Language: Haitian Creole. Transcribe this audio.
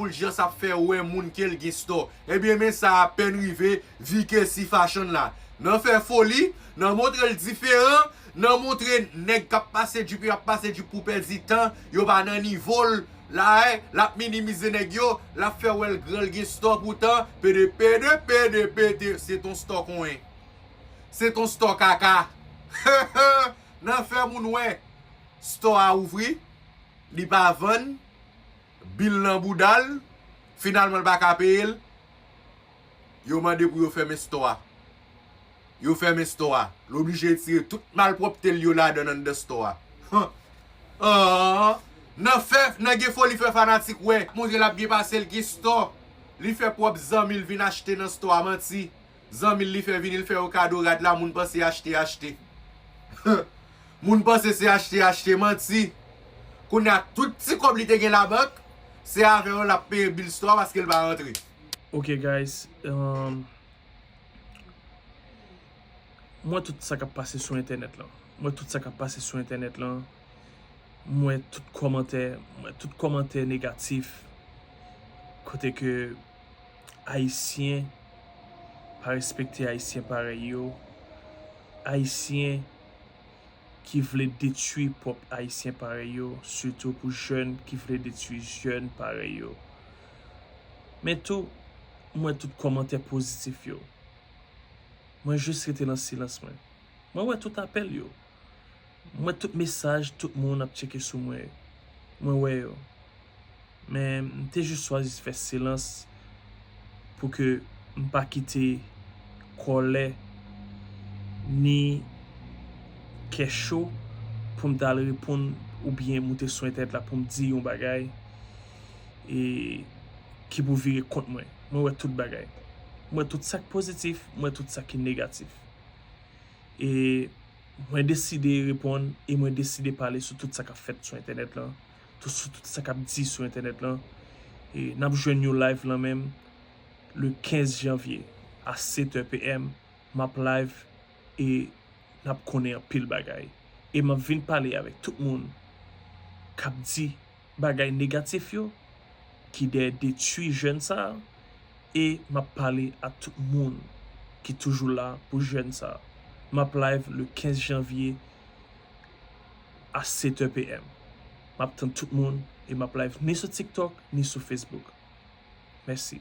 Fulgence ap fè wè moun kel gen stò ebyen men sa apèn rive Vikesy fashion la nan fè foli nan montrel diferan nan montre nèg kap pase jup yo ap pase jup pou pèdi tan yo pa nan nivol la e lap minimize nèg yo lap fè wèl gran l gen stò poutan pede pede pede pede se ton stò konyen se ton stò kaka heheh nan fè moun wè stò a ouvri li pa vann. Bil nan boudal, finalman l pa ka peye l, yo mande pou yo fèmen stò a. Yo fèmen stò a. L oblije retire tout malpwòpte l yo ladan anndan stò a. Nan gen foli fè fanatik wè. Montre l ap byen pase l gen stò. Li fè pwòp zanmi l vin achte nan stò a. Manti. Zanmil li fè vini l fè yo kado rad la moun panse achte achte huh moun panse se achte achte manti kounya tout ti kòb li te gen labank se avè yo lap peye bil store paske l pa rantre. Ok guys umm m wè tout sa kap pase sou entènèt lan m wè tout sa kap pase sou entènèt lan m wè tout kòmantè m wè tout kòmantè negatif kote ke Ayisyen pa respekte Ayisyen parèy yo, Ayisyen ki vle detwi pwòp Ayisyen parèy yo, sitou pou jèn ki vle detwi jèn parèy yo. Men tou, m wè tout kòmantè pozitif yo. Mwen jis rete nan silans mwen. Mwen wè tout apèl yo. M wè tout mesaj tout moun ap tcheke sou mwen yo. Mwen wè yo. Men m te jis chwazi fè silans pou ke m pa kite kòlè ni kè cho pou m t al reponn oubyen moute sou entènèt la pou m di yon bagay e ki pou vire kont mwen. Mwen wè tout bagay. M wè tout sa k pozitif, m wè tout sa ki negatif. E. Mwen deside reponn e mwen deside pale sou tout sa kap fèt sou entènèt lan, tout sou tout sa kap di sou entènèt lan. E nap jwenn yon live lan menm le 15 janvye a 7 è PM, map live e nap konnen anpil bagay e map vin pale avèk tout moun kap di. bagay negatif yo ki dèyè detwi jèn sa e map pale ak tout moun ki toujou la pou jèn sa map live le 15 janvye a 7 è PM map tann tout moun e map live ni sou tiktok ni sou Facebook mèsi.